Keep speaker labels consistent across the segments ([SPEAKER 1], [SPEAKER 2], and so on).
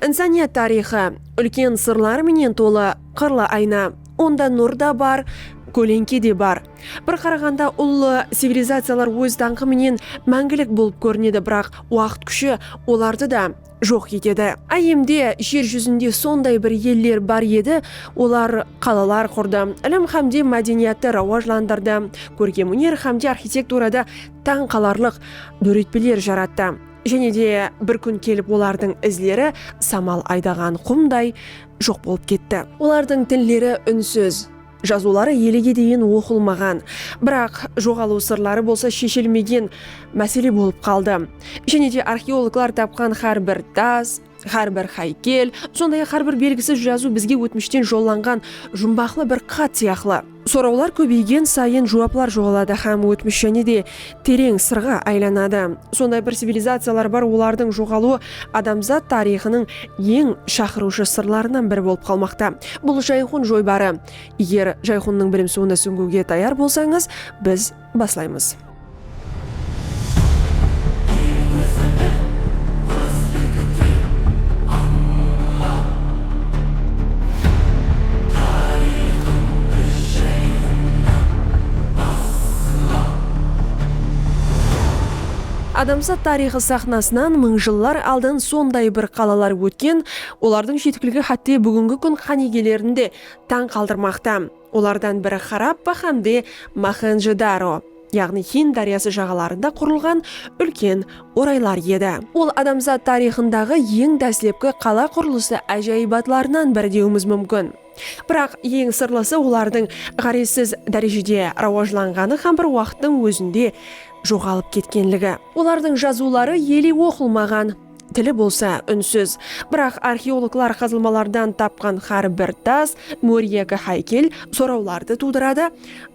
[SPEAKER 1] Insaniyat tariyxı, úlken sırlar menen tolı qırlı ayna. Onda nur da bar, kólenke de bar. Bir qaraǵanda ullı civilizaciyalar óz dańqı menen máńgilik bolıp kórinedi, biraq waqıt kúshi olardı da joq etedi. Áyyemde jer júzinde sonday bir eller bar edi, olar qalalar qurdı, ilim hám de mádeniyattı rawajlandırdı, kórkem-óner hám de arxitekturada tań qalarlıq dóretpeler jarattı. Jáne de bir kún kelip olardıń izleri samal aydaǵan qumday joq bolıp ketti. Olardıń tilleri únsiz, jazıwları elege deyin oqılmaǵan, biraq joǵalıw sırları bolsa sheshilmegen másele bolıp qaldı. Jáne de arxeologlar tapqan hár bir das, Hár bir háykel, sonday-aq hár bir belgisiz jazıw bizge ótmishten jollanǵan jumbaqlı bir xat sıyaqlı. Sorawlar kóbeygen sayın juwaplar joǵaladı hám ótmish jáne de tereń sırǵa aylanadı. Sonday bir civilizaciyalar bar, olardıń joǵalıwı adamzat tariyxınıń eń shaqırıwshı sırlarınan biri bolıp qalmaqta. Bul Jayxun joybarı. Eger Jayxunnıń bilimsuwına súńgiwge tayar bolsańız, biz. Baslaymız. Adamzat tariyxı saxnasınan mıń jıllar aldın sonday bir qalalar ótken, olardıń jetikiligi xátte búgingi kún qánigelerindi tań qaldırmaqta. Olardan biri Xarappa hámde Moxenjo-daro, yaǵnıy Hind dáryası jaǵalarında qurılǵan úlken oraylar edi. Ol adamzat tariyxındaǵı eń dáslepki qala qurılısı ájayıbatlarınan biri dewimiz múmkin. Biraq, eń sırlısı olardıń ǵárezsiz dárejede rawajlanǵanı hám bir waqıttıń ózinde joǵalıp ketkenligi. Olardıń jazıwları ele oqılmaǵan. Tili bolsa únsiz. Biraq arxeologlar qazılmalardan tapqan xár bir tas, mór yaki háykel sorawlardı tuwdıradı,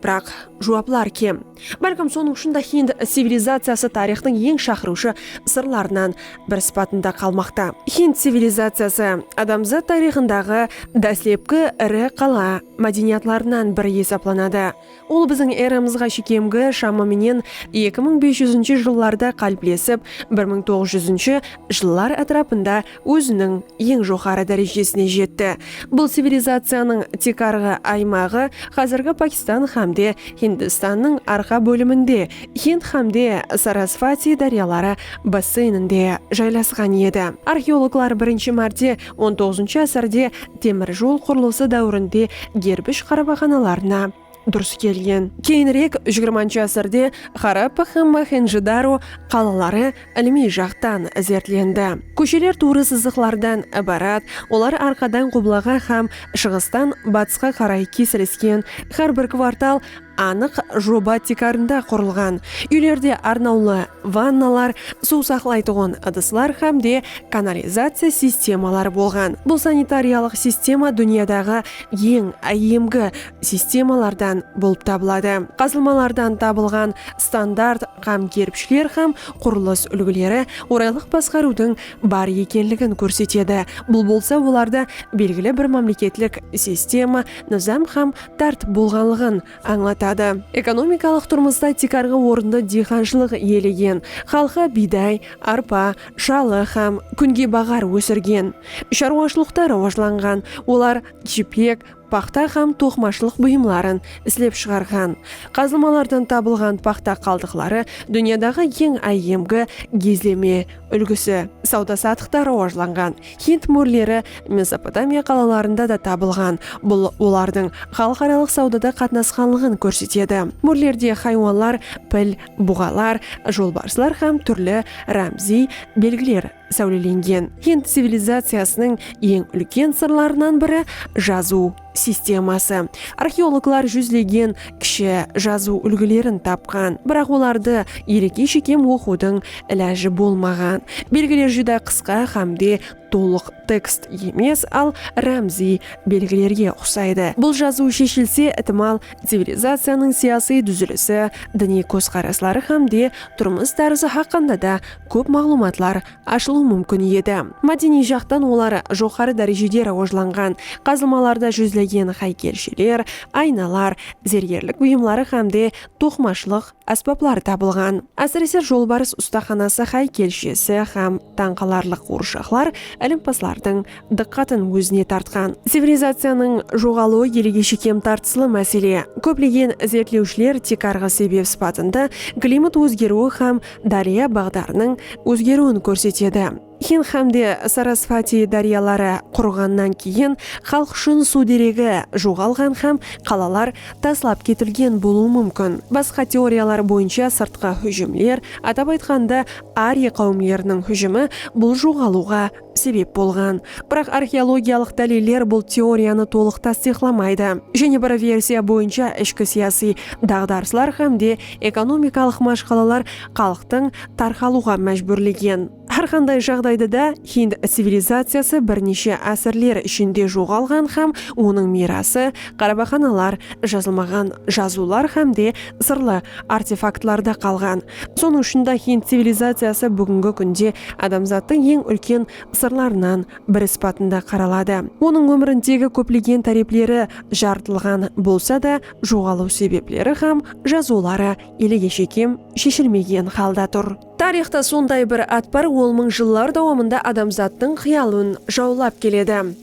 [SPEAKER 1] biraq juwaplar kem. Bálkim sonıń ushın da hind civilizaciyası tariyxtıń eń shaqırıwshı sırlarınan bir sıpatında qalmaqta. Hind civilizaciyası, adamzat tariyxındaǵı dáslepki iri qala mádeniyatlarınan biri esaplanadı. Ol biziń eramızǵa shekemgi shamı menen eki mıń bes júzinshi jıllarda qáliplesip, bir mıń toǵız júzinshi jıllar átirapında óziniń eń joqarı dárejesine jetti. Bul civilizaciyanıń tiykarǵı aymaǵı házirgi Pakistan hám de Hindistannıń arqa bóliminde, Hind hám de Sarasvati dáryaları basseyninde jaylasqan edi. Arxeologlar birinshi márte On toǵızınshı ásirde temir jol qurılısı dáwirinde gerbish qarabaqanalarına durıs kelgen. Keyinirek jigirmanshı ásirde Xarappa hám Moxenjo-daro qalaları ilimiy jaqtan izertlendi. Kósheler tuwrı sızıqlardan ibarat, olar arqadan qublaǵa hám shıǵıstan batısqa qaray kesilisken, hár bir kvartal Anıq joba tiykarında qurılǵan úylerde arnawlı vannalar, suw saqlaytuǵın ıdıslar hám de kanalizaciya sistemaları bolǵan. Bul sanitariyalıq sistema dúnyadaǵı eń áyyemgi sistemalardan bolıp tabıladı. Qazılmalardan tabılǵan standart qam kerpishler hám qurılıs úlgileri oraylıq basqarıwdıń bar ekenligin kórsetedi, bul bolsa olardı belgili bir mámleketlik sistema, nızam hám dárt bolǵanlıǵın ańlatadı. Ekonomikalıq turmısta tiykarǵı orındı diyxanshılıq iyelegen. Xalqı biyday, arpa, shalı hám kúngebaǵar ósirgen. Sharwashılıqta rawajlanǵan, olar jipek, paxta hám toqımashılıq buyımların islep shıǵarǵan. Qazılmalardan tabılǵan paxta qaldıqları dúnyadaǵı eń áyyemgi gizleme úlgisi, sawda-satıqta rawajlanǵan. Hind mórleri Mesopotamiya qalalarında da tabılǵan, bul olardıń xalıqaralıq sawdada qatnasqanlıǵın kórsetedi. Mórlerde haywanlar, pil, buǵalar, jolbarslar hám túrli rámziy belgiler sáwlelengen. Hind civilizaciyasınıń eń úlken sırlarınan biri, jazıw. sisteması. Arxeologlar júzlegen kishi jazıw úlgilerin tapqan, biraq olardı ereke shekem oqıwdıń ilajı bolmaǵan. Belgiler júdá qısqa hám de tolıq tekst emes, al rámziy belgilerge uqsaydı. Bul jazıw sheshilse, itimal, civilizaciyanıń siyasıy dúzilisi, diniy kózqarasları hám de turmıs tárzı haqqında da kóp maǵlıwmatlar ashılıw múmkin edi. Mádeniy jaqtan olar joqarı dárejede rawajlanǵan, qazılmalarda júzlegen háykelsheler, aynalar, zergerlik buyımları hámde toqımashılıq ásbapları tabılǵan. Ásirese, Jolbarıs ustaxanası háykelshesi hám tań qalarlıq quwırshaqlar ilimpazlardıń dıqqatın ózine tartqan. Civilizaciyanıń joǵalıwı elge shekem tartıslı másele. Kóplegen izertlewshiler tiykarǵı sebep sıpatında klimat ózgeriwi hám dárya baǵdarınıń ózgeriwin kórsetedi. Hind hámde Sarasvati dáryaları qurıǵannan keyin xalıq ushın suw deregi joǵalǵan hám qalalar taslap ketilgen bolıwı múmkin. Basqa teoriyalar boyınsha sırtqı hújimler, atap aytqanda, ariya qáwimleriniń hújimi bul joǵalıwǵa sebep bolǵan. Biraq arxeologiyalıq dáliller bul teoriyanı tolıq tastıyıqlamaydı. Jáne bir versiya boyınsha ishki siyasiy daǵdarıslar hám de ekonomikalıq mashqalalar xalıqtıń tarqalıwǵa májbúrlegen. Hár qanday jaǵdayda da, hind civilizaciyası bir neshe ásirler ishinde joǵalǵan hám onıń miyrası qarabaxanalar, jazılmaǵan jazıwlar hám de sırlı artefaktlarda qalǵan. Sonıń ushın da hind civilizaciyası búgingi kúnde adamzattıń eń úlken sırlarınan biri sıpatında qaraladı. Onıń ómirindegi kóplegen tárepleri jarıtılǵan bolsa da, joǵalıw sebepleri hám jazıwları elege shekem sheshilmegen halda tur. Tariyxta sonday bir at bar, ol mıń jıllar dawamında adamzattıń qıyalın jawlap keledi.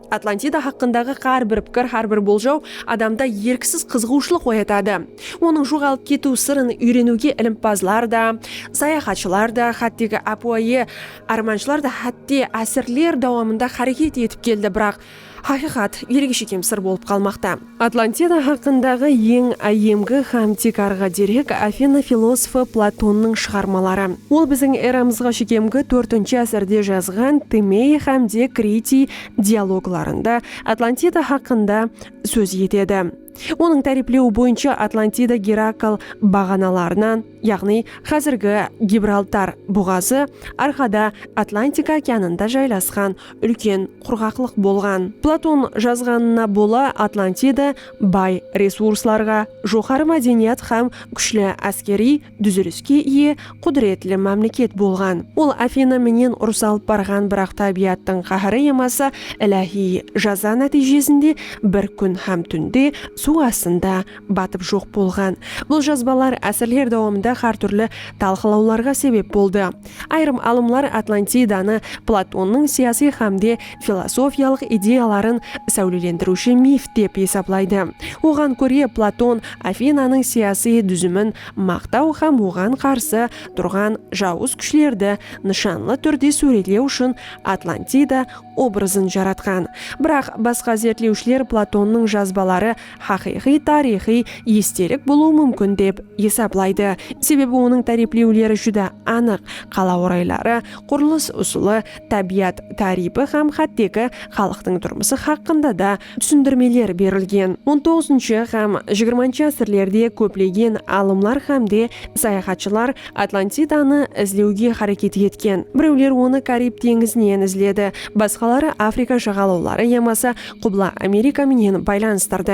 [SPEAKER 1] Atlantida haqqındaǵı hár bir pikir, hár bir boljaw adamda erksiz qızıǵıwshılıq oyatadı. Onıń joǵalıp ketiw sırın úyreniwge ilimpazlar da, sayaxatshılar da, hátteki ápiwayı ármanshılar da hátte ásirler dawamında háreket etip keldi, biraq haqıyqat elge shekem sır bolıp qalmaqta. Atlantida haqqındaǵı eń áyyemgi hám tiykarǵı derek Afina filosofı Platonnıń shıǵarmaları. Ol biziń eramızǵa shekemgi tórtinshi ásirde jazǵan Timey hám de Kritiy dialoglarında Atlantida haqqında sóz etedi. Onıń táriyplewi boyınsha Atlantida Gerakl baǵanalarınan, yaǵnıy xázirgi Gibraltar buǵazı arqada Atlantika okeanında jaylasqan úlken qurǵaqlıq bolǵan. Platon jazǵanına bola Atlantida bay resurslarǵa, joqarı mádeniyat hám kúshli áskeriy dúziliske iye qúdiretli mámleket bolǵan. Ol Afina menen urıs alıp barǵan biraq tábiyattıń qáhiri yamasa iláhiy jaza nátiyjesinde bir kún hám túnde suw astında batıp joq bolǵan. Bul jazbalar ásirler dawamında hár túrli talqılawlarǵa sebep boldı. Ayırım alımlar Atlantidanı Platonnıń siyasiy hámde filosofiyalıq ideyaların sáwlelendiriwshi mif dep esaplaydı. Oǵan kóre Platon Afinanıń siyasiy dúzimin maqtaw hám oǵan qarsı turǵan jawız kúshlerdi nıshanlı túrde súwretlew ushın Atlantida obrazın jaratqan. Biraq basqa zertlewshiler Platonnıń jazbaları haqıyqıy tariyxıy estelik bolıwı múmkin dep esaplaydı, sebebi onıń táriplewleri júdá anıq, qala orayları, qurılıs usılı, tábiyat táriypi hám hátteki xalıqtıń turmısı haqqında da túsindirmeler berilgen. On toǵızınshı hám jigirmanshı ásirlerde kóplegen alımlar hám de sayaxatshılar Atlantidanı izlewge háreket etken, birewler onı Karib teńizinen izledi, basqaları Afrika jaǵalawları yamasa Qubla Amerika menen baylanıstardı.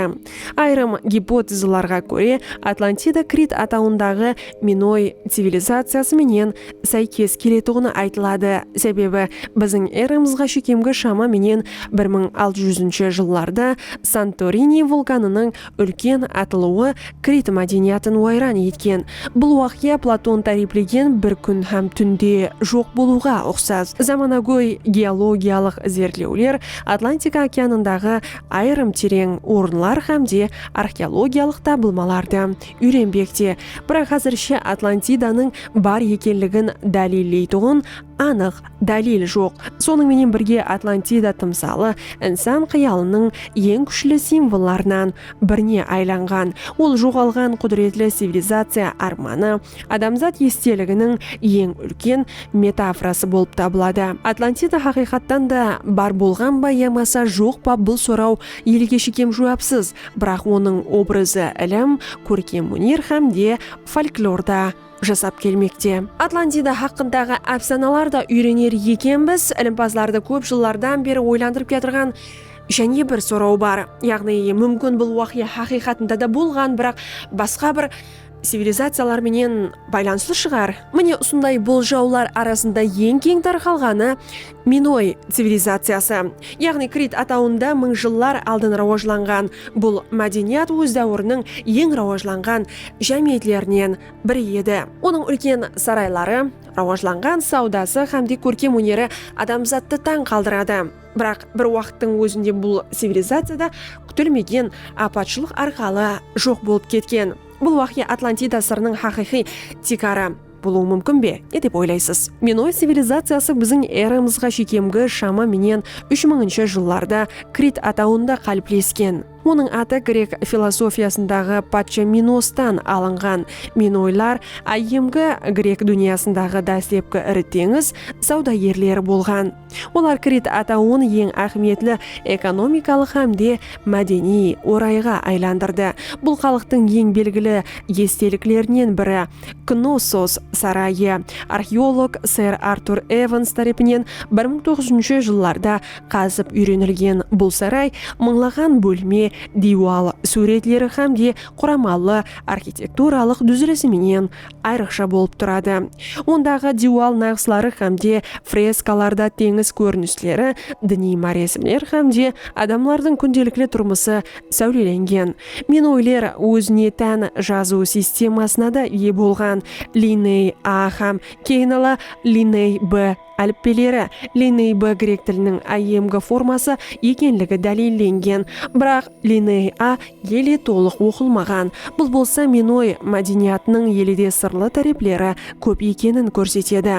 [SPEAKER 1] Ayırım gipotezalarǵa kóre, Atlantida Krit atawındaǵı minoy civilizaciyası menen sáykes keletuǵını aytıladı, sebebi biziń eramızǵa shekemgi shama menen bir mıń altı júzinshi jıllarda Santorini vulkanınıń úlken atılıwı krit mádeniyatın wayran etken. Bul waqıya Platon táriplegen bir kún hám túnde joq bolıwǵa uqsas. Zamanagóy geologiyalıq izertlewler Atlantika okeanındaǵı ayırım tereń orınlar hám de arxeologiyalıq tabılmalardı úyrenbekte, biraq házirshe Atlantidanıń bar ekenligin dálilleytuǵın anıq Dálil joq. Sonıń menen birge Atlantida tımsalı insan qıyalınıń eń kúshli simvollarınan birine aylanǵan. Ol joǵalǵan qúdiretli civilizaciya ármanı, adamzat esteliginiń eń úlken metaforası bolıp tabıladı. Atlantida haqıyqattan da bar bolǵan ba yamasa joq pa bul soraw elge shekem juwapsız, biraq onıń obrazı ilim, kórkem óner hám de folklorda, jasap kelmekte. Atlantida haqqındaǵı ápsanalar da úyrener ekenbiz. Ilimpazlardı kóp jıllardan beri oylandırıp kiyatırǵan jáne bir soraw bar. Yaǵnıy, múmkin bul waqıya haqıyqatında da bolǵan, biraq basqa bir civilizaciyalar menen baylanıslı shıǵar? Mine usınday boljawlar arasında eń keń tarqalǵanı Minoy civilizaciyası, yaǵnıy Krit atawında mıń jıllar aldın rawajlanǵan bul mádeniyat óz dáwiriniń eń rawajlanǵan jámiyetlerinen biri edi. Onıń úlken sarayları, rawajlanǵan sawdası hám de kórkem óneri adamzattı tań qaldıradı. Biraq bir waqıttıń ózinde bul civilizaciya da kútilmegen apatshılıq arqalı joq bolıp ketken. Bul waqıya Atlantida sırınıń haqıyqıy tiykarı. bolıwı múmkin be? Ne dep oylaysız? Minoy civilizaciyası biziń eramızǵa shekemgi shama menen úsh mıńınsha jıllarda Krit atawında qáliplesken. Onıń atı grek filosofiyasındaǵı patsha Minostan alınǵan. Minoylar áyyemgi grek dúnyasındaǵı dáslepki iri teńiz sawdagerleri bolǵan. Olar Krit atawın eń áhmiyetli ekonomikalıq hám de mádeniy orayǵa aylandırdı. Bul xalıqtıń eń belgili esteliklerinen biri Knossos sarayı, arxeolog ser Artur Evans tárepinen bir mıń toǵız júzinshi jıllarda qazıp úyrenilgen bul saray mıńlaǵan bólme, diywal súwretleri hám de quramalı arxitekturalıq dúzilisi menen ayrıqsha bolıp turadı. Ondaǵı diywal naǵısları hám de freskalarda teńiz kórinisleri, diniy máresimler hám de adamlardıń kúndelikli turmısı sáwlelengen. Minoyler ózine tán jazıw sistemasına da iye bolǵan, liney A hám keyin ala liney B. Álipbeleri, Lineey B grek tiliniń IMG forması ekenligi dálillengen. Biraq Lineey A ele tolıq oqılmaǵan. Bul bolsa minoy mádeniyatınıń elede sırlı tárepleri kóp ekenin kórsetedi.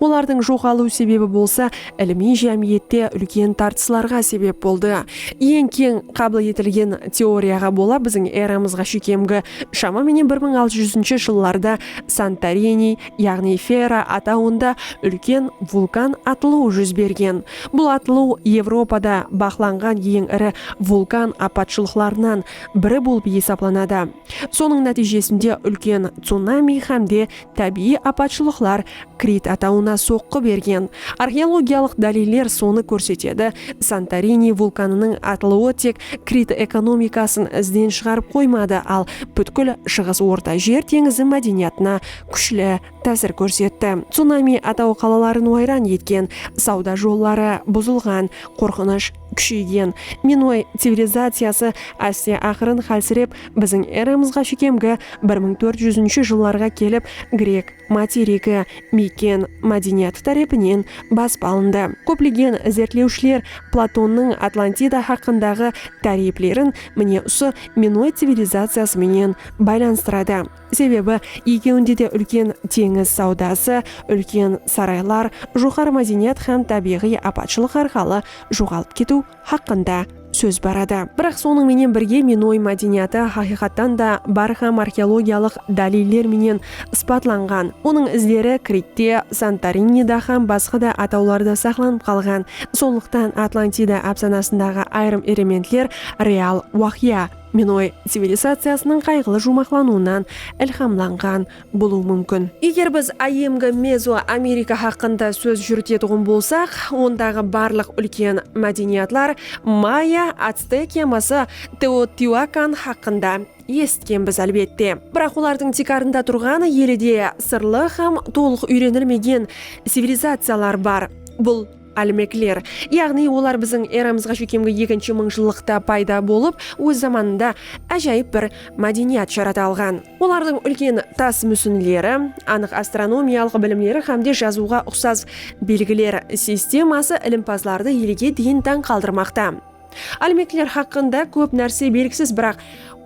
[SPEAKER 1] Olardıń joǵalıw sebebi bolsa ilimiy jámiyette úlken tartıslarǵa sebep boldı. Eń keń qabıl etilgen teoriyaǵa bola biziń eramızǵa shekemgi, shama menen bir mıń altı júzinshi jıllarda Santoriniy, yaǵnıy Fera atawında úlken vulkan atılıw júz bergen. Bul atılıw Evropada baqlanǵan eń iri vulkan apatshılıqlarınan biri bolıp esaplanadı. Sonıń nátiyjesinde úlken tsunami hám de tábiyiy apatshılıqlar Krit atawına soqqı bergen. Arxeologiyalıq dáliller sonı kórsetedi, Santorini vulkanınıń atılıwı tek Krit ekonomikasın izden shıǵarıp qoymadı, al pútkil Shıǵıs Orta jer teńizi mádeniyatına kúshli tásir kórsetti. Tsunami ataw qalaların wayran etken, sawda jolları buzılǵan, qorqınısh kúsheygen. Minoy civilizaciyası áste-aqırın hálsirep, biziń eramızǵa shekemgi bir mıń tórt júzinshi jıllarǵa kelip, grek materigi, miken mádeniyatı tárepinen basıp alındı. Kóplegen izertlewshiler Platonnıń Atlantida haqqındaǵı táriyplerin mine usı minoy civilizaciyası menen baylanıstıradı. Sebebi, ekewinde de úlken teńiz sawdası, úlken saraylar, joqarı mádeniyat hám tábiyǵıy apatshılıq arqalı joǵalıp ketiw haqqında sóz bar edi. Biraq sonıń menen birge minoy mádeniyatı haqıyqattan da bar hám arxeologiyalıq dáliller menen sıpatlanǵan. Onıń izleri Kritte, Santorinida hám basqa da atawlarda saqlanıp qalǵan. Sonlıqtan Atlantida ápsanasındaǵı ayırım erementler real waqıya. Minoy civilizaciyasınıń qayǵılı juwmaqlanıwınan ilhamlanǵan bolıwı múmkin. Eger biz áyyemgi Mezo Amerika haqqında sóz júritetuǵın bolsaq, ondaǵı barlıq úlken mádeniyatlar Maya, Actek yaması Teotiuakan haqqında esitkenbiz, álbette. Biraq olardıń tiykarında turǵan elide sırlı hám tolıq úyrenilmegen civilizaciyalar bar. Bul. Álmekler, yaǵnıy olar biziń eramızǵa sheykemgi ekinshi mıńjıllıqta payda bolıp, óz zamanında ájayıp bir mádeniyat jarata alǵan. Olardıń úlken tas músinleri, anıq astronomiyalıq bilimleri hámde jazıwǵa uqsas belgiler sisteması ilimpazlardı elge deyin tań qaldırmaqta. Álmekler haqqında kóp nárse belgisiz, biraq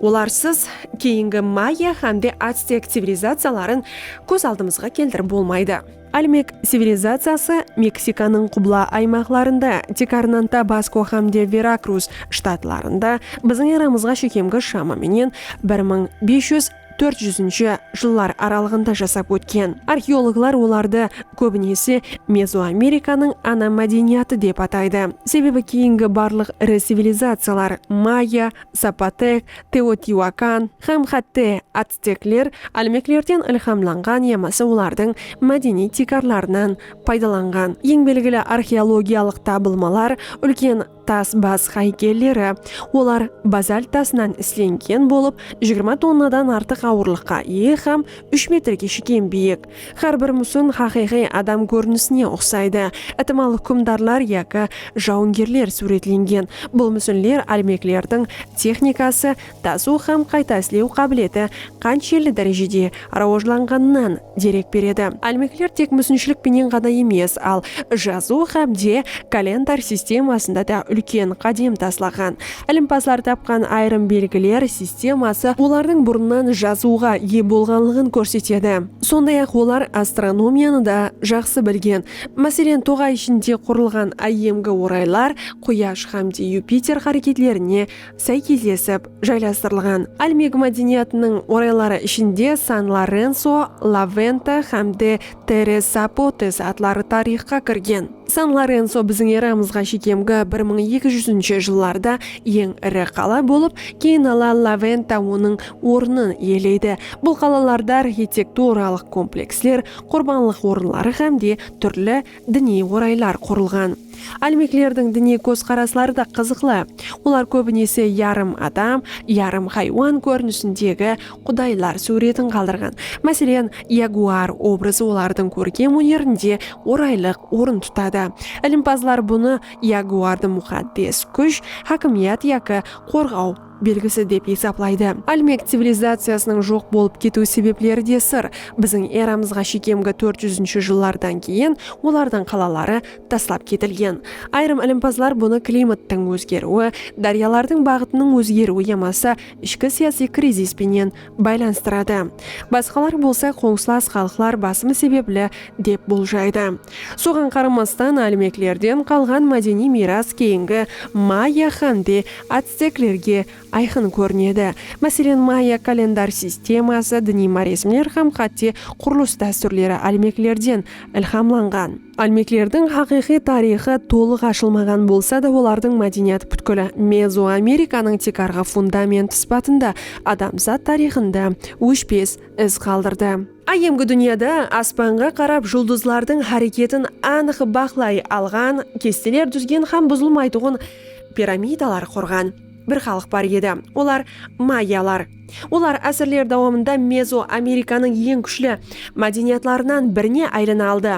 [SPEAKER 1] olarsız keyingi maya hámde atstek civilizaciyaların kóz aldımızǵa keltirip bolmaydı. Olmek civilizaciyası Meksikanıń qubla aymaqlarında, Tikarnanta, Basko hám de Verakruz shtatlarında biziń eramızǵa shekemgi shama menen bir mıń bes júz, tórt júzinshi jıllar aralıǵında jasap ótken. Arxeologlar olardı kóbinese Mezoamerikanıń ana mádeniyatı dep ataydı, sebebi keyingi barlıq iri civilizaciyalar, maya, zapotek, teotiuakan hám xátte, Stekler álmeklerden ilhamlanǵan yamasa olardıń mádeniy tiykarlarınan paydalanǵan. Eń belgili arxeologiyalıq tabılmalar úlken tas bas haykelleri. Olar bazalt tasınan islengen bolıp, jigirma tonnadan artıq awırlıqqa iye hám úsh metrge shekem biyik. Hár bir músin haqıyqıy adam kórinisine uqsaydı, itimal húkimdarlar yaki jawıngerler súwretlengen. Bul músinler álmeklerdiń texnikası, tasıw hám qayta islew qábileti qanshelli dárejede rawajlanǵanınan derek beredi. Álmekler tek músinshilik penen ǵana emes, al jazıw hám de kalendar sistemasında da úlken qádem taslaǵan. Ilimpazlar tapqan ayırım belgiler sisteması olardıń burınnan jazıwǵa iye bolǵanlıǵın kórsetedi. Sonday-aq, olar astronomiyanı da jaqsı bilgen. Máselen, toǵay ishinde qurılǵan áyyemgi oraylar, Quyash hám de Yupiter háreketlerine sáykeslesip jaylastırılǵan. Olmeg mádeniyatınıń orayları ishinde San Lorenso, La Venta hám de Terres Zapotes atları tariyxqa kirgen. San Lorenso biziń eramızǵa shekemgi bir mıń eki júzinshi jıllarda eń iri qala bolıp, keyin ala La Venta onıń ornın iyeleydi. Bul qalalarda arxitekturalıq kompleksler, qurbanlıq orınları hám de túrli Diniy oraylar qurılǵan. Álmeklerdiń diniy kózqarasları da qızıqlı. Olar kóbinese yarım adam, yarım haywan kórinisindegi qudaylar súwretin qaldırǵan. Máselen, yaguar obrazı olardıń kórkem ónerinde oraylıq orın tutadı. Ilimpazlar bunı yaguardı muxaddes kúsh, hákimiyat yaki qorǵaw, belgisi dep esaplaydı. Olmec civilizaciyasınıń joq bolıp ketiw sebepleri de sır, biziń eramızǵa shekemgi tórt júzinshi jıllardan keyin olardıń qalaları taslap ketilgen. Ayırım ilimpazlar bunı klimattıń ózgeriwi, dáryalardıń baǵıtınıń ózgeriwi yamasa ishki siyasiy krizis penen baylanıstıradı. Basqalar bolsa qońsılas xalıqlar basımı sebepli dep boljaydı. Soǵan qaramastan, Olmeklerden qalǵan mádeniy miyras keyingi Maya hám de Atsteklerge ayqın kórinedi. Máselen, Maya kalendar sisteması, diniy maresimler hám xátte qurılıs dástúrleri Olmeklerden ilhamlanǵan. Olmeklerdiń haqıyqıy tariyxı tolıq ashılmaǵan bolsa da, olardıń mádeniyat pútkili Mezoamerikanıń tiykarǵı fundamenti sıpatında adamzat tariyxında óshpes iz qaldırdı. Áyyemgi dúnyada aspanǵa qarap juldızlardıń háreketin anıq baqlay alǵan, kesteler dúzgen hám buzılmaytuǵın piramidalar qurǵan bir xalıq bar edi, olar mayalar. Olar ásirler dawamında Mezoamerikanıń eń kúshli mádeniyatlarınan birine aylana aldı.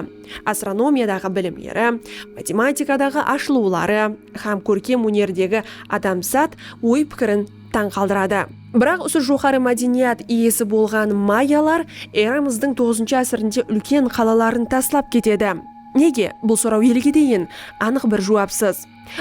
[SPEAKER 1] Astronomiyadaǵı bilimleri, matematikadaǵı ashılıwları hám kórkem ónerdegi adamzat oy-pikirin tań qaldıradı. Biraq usı joqarı mádeniyat iyesi bolǵan mayalar eramızdıń toǵızınshı ásirinde úlken qalaların taslap ketedi. Nege? Bul soraw elge deyin anıq bir juwapsız.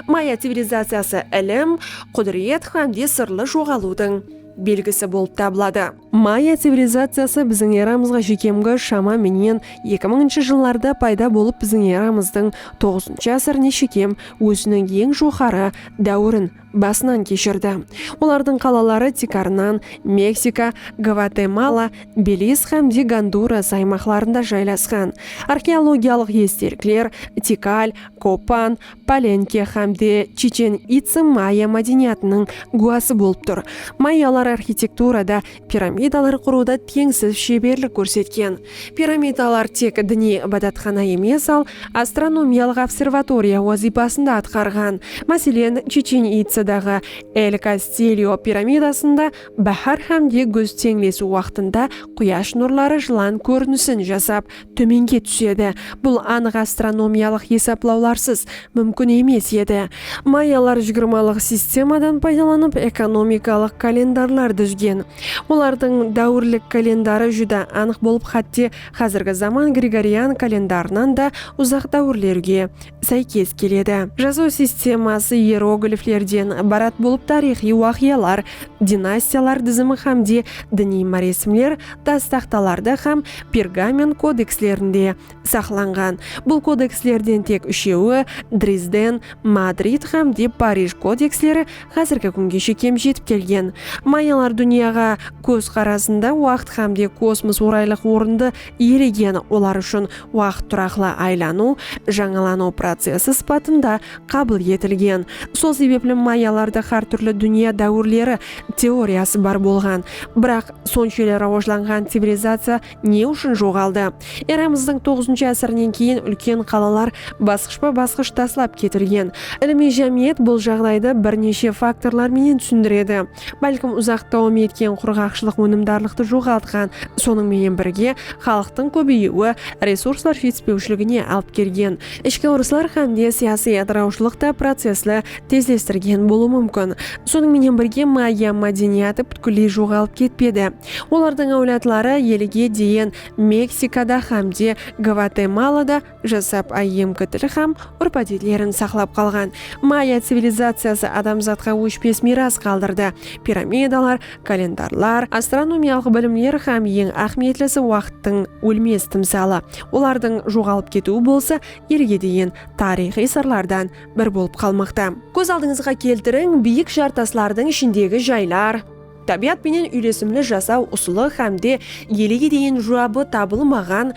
[SPEAKER 1] Maya civilizaciyası ilim, qúdiret hám de sırlı joǵalıwdıń belgisi bolıp tabıladı. Maya civilizaciyası biziń eramızǵa shekemgi shama menen eki mıńıncı jıllarda payda bolıp biziń eramızdıń toǵızıncı ásirine shekem óziniń eń joqarı dáwirin basınan keshirdi. Olardıń qalaları tiykarınan Meksika, Gvatemala, Beliz hám de Gonduras aymaqlarında jaylasqan. Arxeologiyalıq estelikler Tikal, Kopan, Palenke hám de Chichen Itsa maya mádeniyatınıń gúwası bolıp tur. Mayalar arxitekturada, piramidalar qurıwda teńsiz sheberlik kórsetken. Piramidalar tek diniy ibadatxana emes, al astronomiyalıq observatoriya wazıypasın da atqarǵan. Máselen, Chichen Itsadaǵı El Kastilyo piramidasında báhár hám de gúz teńlesiw waqtında quyash nurları jılan kórinisin jasap tómenge túsedi. Bul anıq astronomiyalıq esaplawlarsız múmkin emes edi. Mayalar jigirmalıq sistemadan paydalanıp ekonomikalıq kalendarlar dúzgen. Olardıń dáwirlik kalendarı júdá anıq bolıp xátte xázirgi zaman gregorian kalendarınan da uzaq dáwirlerge sáykes keledi. Jazıw sisteması ierogliflerden ibarat bolıp tariyxıy waqıyalar, dinastiyalar dizimi hámde diniy máresimler tas taxtalarda hám pergament kodekslerinde saqlanǵan. Bul kodekslerden tek úshewi, Drizden, Madrid hámde Parij kodeksleri házirgi kúngeshe kem jetip kelgen. Mayalar dúnyaǵa kóz qarasında waqıt hámde kosmos oraylıq orındı Eregen olar ushın waqıt turaqlı aylanıw, jańalanıw procesi sıpatında qabıl etilgen. Sol sebepli mayyalarda xár túrli dúnya dáwirleri teoriyası bar bolǵan. Biraq, sonshelli rawajlanǵan civilizaciya ne ushın joǵaldı? Eramızdıń toǵızınshı ásirinen keyin úlken qalalar basqıshpa-basqısh taslap ketilgen. Ilimiy jámiyet bul jaǵdaydı bir neshe faktorlar menen túsindiredi. bálkim uzaq dawam etken qurǵaqshılıq ónimdarlıqtı joǵaltqan, sonıń menen birge, xalıqtıń kóbeyiwi resurslar jetispewshiligine alıp kelgen, ishki urıslar hám de siyasiy atırawshılıq ta processti tezlestirgen bolıwı múmkin. Sonıń menen birge, maya mádeniyatı pútkilley joǵalıp ketpedi. Olardıń áwladları elige deyin Meksikada hám de Gvatemalada, jasap áyyemgi til hám úrp-ádetlerin saqlap qalǵan. Maya civilizaciyası adamzatqa óshpes miyras qaldırdı, piramidalar, kalendarlar, astronomiyalıq bilimler hám eń áhmiyetlisi waqıttıń ólmes timsalı. Olardıń joǵalıp ketiwi bolsa elge degen tariyxıy sırlardan bir bolıp qalmaqta. Kóz aldıńızǵa keltiriń, biyik jar taslardıń ishindegi jaylar, tábiyat penen úylesimli jasaw usılı hám de elege deyin juwabı tabılmaǵan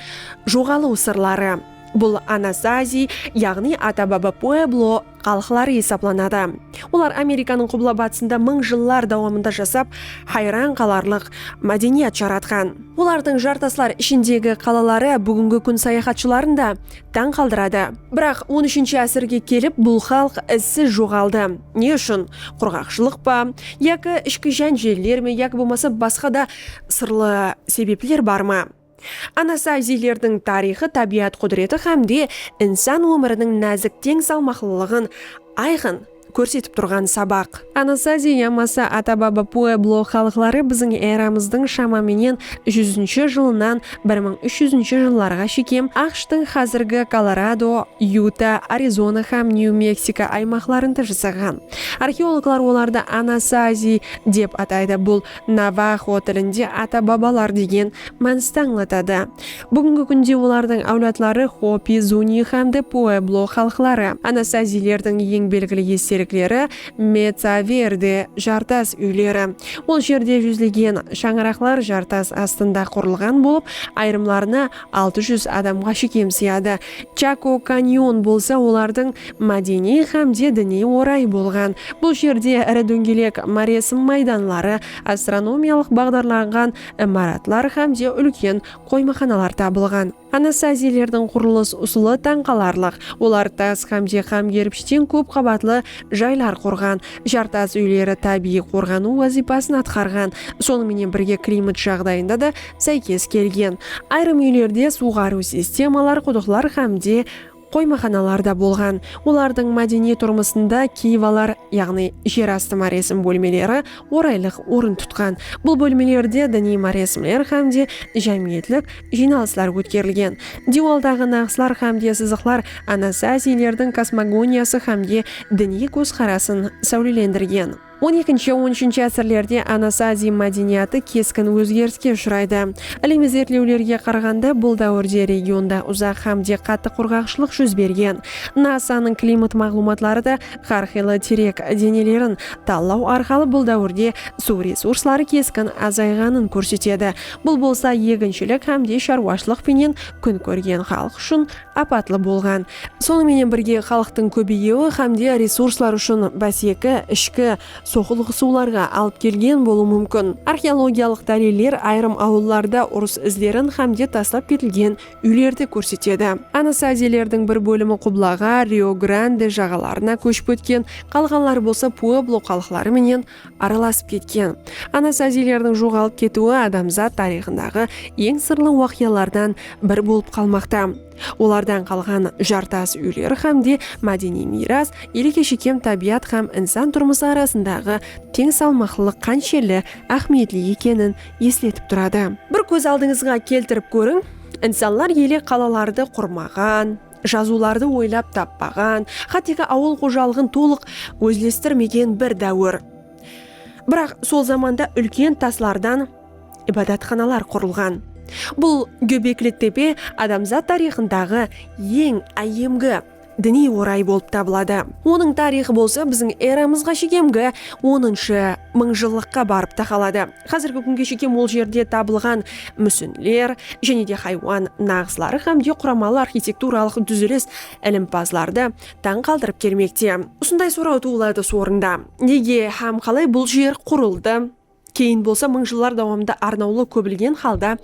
[SPEAKER 1] joǵalıw sırları. Bul Anasazi, yaǵnıy ata-baba pueblo xalıqları esaplanadı. Olar Amerikanıń qubla-batısında mıń jıllar dawamında jasap, hayran qalarlıq mádeniyat jaratqan. Olardıń jartaslar ishindegi qalaları búgingi kún sayaxatshıların da tań qaldıradı. Biraq on úshinshi ásirge kelip bul xalıq izsiz joǵaldı. Ne ushın? Qurǵaqshılıq pa? Yaki ishki jánjeller me yaki bolmasa basqa da sırlı sebepler bar ma? Anasaiziylerdiń tariyxı tábiyat qúdireti hám de insan ómiriniń názik teń salmaqlılıǵın ayqın, kórsetip turǵan sabaq. Anasazi yamasa Atababa pueblo xalıqları biziń eramızdıń shama menen júzinshi jılınan bir mıń úsh júzinshi jıllarǵa shekem AQShtıń xázirgi Kolorado, Yuta, Arizona hám Nyu-Meksiko aymaqlarında jasaǵan. Arxeologlar olardı Anasazi dep ataydı, bul navaxo tilinde ata-babalar degen mánisti ańlatadı. Búgingi kúnde olardıń áwladları Hopi, Zuni hám de Pueblo xalıqları, Anasaziylerdiń eń belgili estelikleri Mesa Verde, Jartas úyleri. Bul jerde júzlegen shańaraqlar jartas astında qurılǵan bolıp, ayırımlarına altı júz adamǵa shekem sıyadı. Chako Kanyon bolsa olardıń mádeniy hám de diniy orayı bolǵan. Bul jerde iri dóńgelek máresim maydanları, astronomiyalıq baǵdarlanǵan imaratlar hám de úlken qoymaxanalar tabılǵan. Anastaziyalerdiń qurılıs usılı tań qalarlıq, olar tas hám de hám kerpishten kóp qabatlı jaylar qurǵan, jartas úyleri tábiyiy qorǵanıw wazıypasın atqarǵan, sonıń menen birge klimat jaǵdayında da sáykes kelgen. Ayırım úylerde suwǵarıw sistemalar qudıqlar hám de. Qoymaxanalar da bolǵan. Olardıń mádeniy turmısında kiyvalar, yaǵnıy jer astı máresim bólmeleri oraylıq orın tutqan. Bul bólmelerde diniy máresimler hám de jámiyetlik jıynalıslar ótkerilgen. Diywaldaǵı naǵıslar hám de sızıqlar anasazilerdiń kosmogoniyası hám de diniy kózqarasın sáwlelendirgen. On ekinshi, on úshinshi ásirlerde Anas Aziy mádeniyatı keskin ózgeriske ushıraydı. Ilimiy izertlewlerge qaraǵanda, bul dáwirde regionda uzaq hám de qattı qurǵaqshılıq júz bergen. NASA-nıń klimat maǵlıwmatları da hár qıylı tirek denelerin tallaw arqalı bul dáwirde suw resursları keskin azayǵanın kórsetedi, bul bolsa eginshilik hám de sharwashılıq penen kún kórgen xalıq ushın apatlı bolǵan. Sonıń menen birge, xalıqtıń kóbeyiwi hám de resurslar ushın báseki, ishki, soqılıǵısıwlarǵa alıp kelgen bolıwı múmkin. Arxeologiyalıq dáliller ayırım awıllarda urıs izlerin hám de taslap ketilgen úylerdi kórsetedi. Anasazilerdiń bir bólimi qublaǵa, Rio-Grande, jaǵalarına kóship ótken, qalǵanları bolsa pueblo xalıqları menen aralasıp ketken. Anasaziylerdiń joǵalıp ketiwi adamzat tariyxındaǵı eń sırlı waqıyalardan bir bolıp qalmaqta. Olardan qalǵan jartas úyler hám de mádeniy miyras, elege shekem tábiyat hám insan turmısı arasındaǵı teń salmaqlılıq qanshelli áhmiyetli ekenin esletip turadı. Bir kóz aldıńızǵa keltirip kóriń, insanlar ele qalalardı qurmaǵan, Jazıwlardı oylap tappaǵan, xátteki awıl xojalıǵın tolıq ózlestirmegen bir dáwir. Biraq sol zamanda úlken taslardan ibadatxanalar qurılǵan. Bul Góbekli tepe adamzat tariyxındaǵı eń áyyemgi diniy oray bolıp tabıladı. Onıń tariyxı bolsa biziń eramızǵa shekemgi onınshı mıńjıllıqqa barıp taqaladı. Xázirgi kúnge shekem ol jerde tabılǵan músinler, jáne de haywan naǵısları hám de quramalı arxitekturalıq dúzilis ilimpazlardı tań qaldırıp kelmekte. Usınday soraw tuwıladı sorında, nege hám qalay bul jer qurıldı, keyin bolsa mıń jıllar dawamında arnawlı kóbilgen halda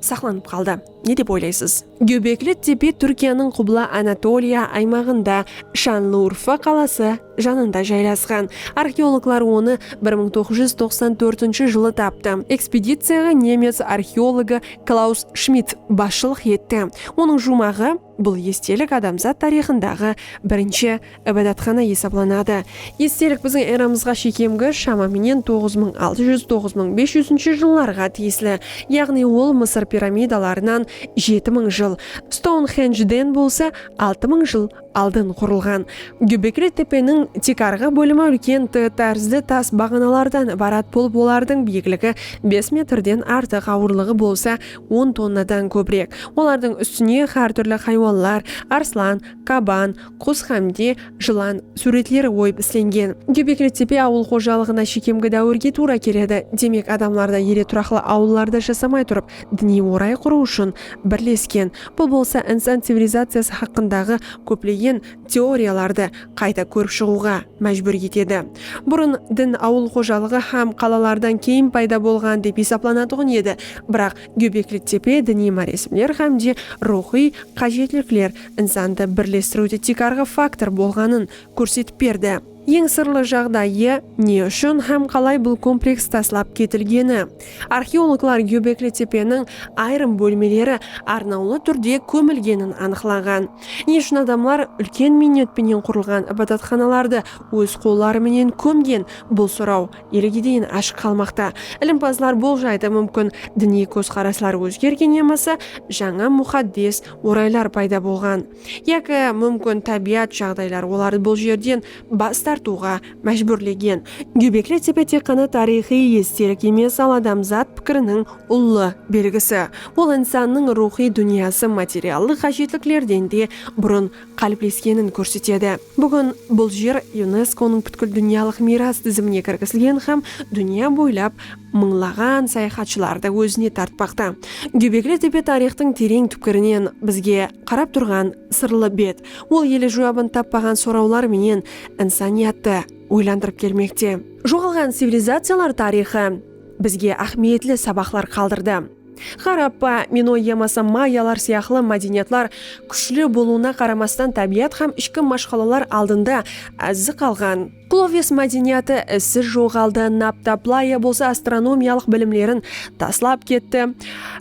[SPEAKER 1] saqlanıp qaldı, ne dep oylaysız? Góbekli tepe Túrkiyanıń Qubla Anatoliya aymaǵında, Shanlıurfa qalası janında jaylasqan. Arxeologlar onı bir mıń toǵız júz toqsan tórtinshi jılı taptı. Ekspediciyaǵa nemec arxeologı Klaus Shmidt basshılıq etti. Onıń juwmaǵı, Bul estelik adamzat tariyxındaǵı birinshi Ibadatxana esaplanadı. Estelik biziń eramızǵa shekemgi, shama menen toǵız mıń altı júz, toǵız mıń bes júzinshi jıllarǵa tiyisli, yaǵnıy ol Mısır piramidalarınan jeti mıń jıl, Stounxendjden bolsa altı mıń jıl aldın qurılǵan. Gúbekli tepeniń tek arǵı bólimi úlken T tárzli tas baǵanalardan ibarat bolıp olardıń biyikligi bes metrden artıq awırlıǵı bolsa on tonnadan kóbirek. Olardıń ústine xár túrli xaywanlar, arslan, qaban, qus hám de jılan súwretleri oyıp islengen. Gebekli tepe awıl xojalıǵına shekemgi dáwirge tuwra keledi. Demek, adamlar da ele turaqlı awıllarda jasamay turıp, diniy oray qurıw ushın birlesken. Bul bolsa insan civilizaciyası haqqındaǵı kóplegen teoriyalardı qayta kórip shıǵıwǵa májbúr etedi. Burın din awıl xojalıǵı hám qalalardan keyin payda bolǵan dep esaplanatuǵın edi, biraq Gebekli tepe diniy máresimler hám de ruwxıy qájetlikler, insandı birlestiriwde tiykarǵı faktor bolǵanın kórsetip berdi. Eń sırlı jaǵdayı, ne ushın hám qalay bul kompleks taslap ketilgeni. Arxeologlar Góbekli tepeniń ayırım bólmeleri arnawlı túrde kómilgenin anıqlaǵan. Ne ushın adamlar úlken miynet penen qurılǵan ibadatxanalardı óz qolları menen kómgen, bul soraw elege deyin ashıq qalmaqta. Ilimpazlar boljaydı, múmkin diniy kózqaraslar ózgergen yamasa jańa muxaddes oraylar payda bolǵan yaki múmkin tábiyat jaǵdaylar olardı bul jerden bas tartıwǵa májbúrlegen. Góbekli tepe tek ǵana tariyxıy estelik emes, al adamzat pikiriniń ullı belgisi. Ol insannıń ruwxıy dúnyası materiallıq ǵájetliklerden de burın qálipleskenin kórsetedi. Búgin bul jer YUNESKO-nıń pútkil dúnyalıq miyras dizimine kirgizilgen hám dúnya boylap mıńlaǵan sayaxatshılardı ózine tartpaqta. Gúbekli tepe tariyxtıń tereń túpkirinen bizge qarap turǵan sırlı bet, ol ele juwabın tappaǵan sorawlar menen insaniyattı oylandırıp kelmekte. Joǵalǵan civilizaciyalar tariyxı bizge áhmiyetli sabaqlar qaldırdı. Harappa, minoy yamasa mayalar sıyaqlı mádeniyatlar kúshli bolıwına qaramastan tábiyat hám ishki mashqalalar aldında ázzi qalǵan. Qloves mádeniyatı izsiz joǵaldı, Naptaplaya bolsa astronomiyalıq bilimlerin taslap ketti,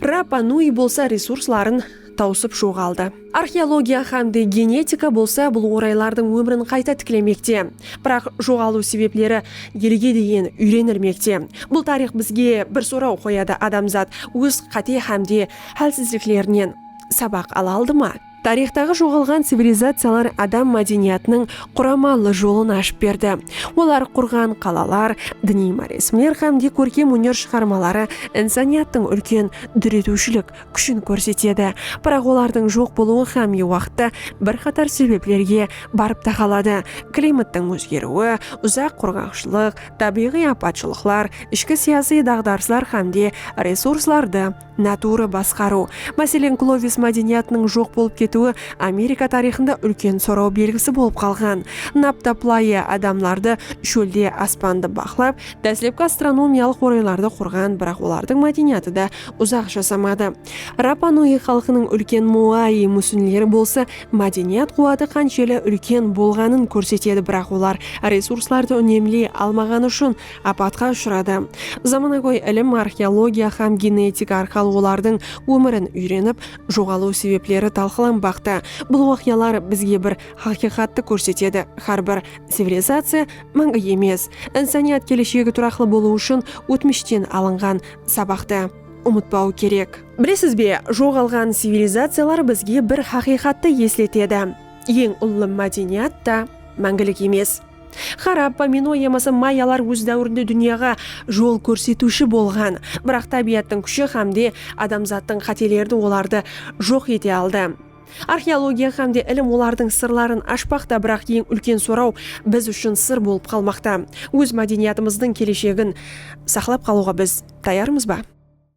[SPEAKER 1] Rapa Nui bolsa resursların tawsıp joǵaldı. Arxeologiya hám de genetika bolsa bul oraylardıń ómirin qayta tiklemekte. Biraq joǵalıw sebepleri elge deyin úyrenilmekte. Bul tariyx bizge bir soraw qoyadı, adamzat óz qáte hám de hálsizliklerinen sabaq ala aldı ma? Tariyxtaǵı joǵalǵan civilizaciyalar adam mádeniyatınıń quramallı jolın ashıp berdi. Olar qurǵan qalalar, diniy máresimler hám de kórkem óner shıǵarmaları insaniyattıń úlken dóretiwshilik kúshin kórsetedi, biraq olardıń joq bolıwı hámme waqıtta bir qatar sebeplerge barıp taqaladı, klimattıń ózgeriwi, uzaq qurǵaqshılıq, tábiyǵıy apatshılıqlar, ishki siyasıy daǵdarıslar hámde resurslardı natuwrı basqarıw. Máselen, Klovis mádeniyatınıń joq bolıp ketiwi Amerika tariyxında úlken soraw belgisi bolıp qalǵan. Napta playı adamlardı shólde aspandı baqlap, dáslepki astronomiyalıq oraylardı qurǵan, biraq olardıń mádeniyatı da uzaq jasamadı. Rapa Nuyi xalqınıń úlken Muayi músinleri bolsa mádeniyat quwatı qansheli úlken bolǵanın kórsetedi biraq olar resurslardı únemley almaǵanı ushın apatqa ushıradı. Zamanagóy ilim arxeologiya hám genetika arqalı olardıń ómirin úyrenip joǵalıw sebepleri talqılanbaqta. Bul waqıyalar bizge bir haqıyqattı kórsetedi, hár bir civilizaciya máńgi emes. Insaniyat keleshegi turaqlı bolıw ushın ótmishten alınǵan sabaqtı umıtpaw kerek. Bilesiz be, joǵalǵan civilizaciyalar bizge bir haqıyqattı esletedi, eń ullı mádeniyat ta máńgilik emes. Xarappa, Minoy yamasa Mayalar óz dáwirinde dúnyaǵa jol kórsetiwshi bolǵan, biraq tábiyattıń kúshi hámde adamzattıń qátelerdi olardı joq ete aldı. Arxeologiya hám de ilim olardıń sırların ashpaqta, biraq eń úlken soraw biz ushın sır bolıp qalmaqta, óz mádeniyatımızdıń keleshegin saqlap qalıwǵa biz tayarmız ba?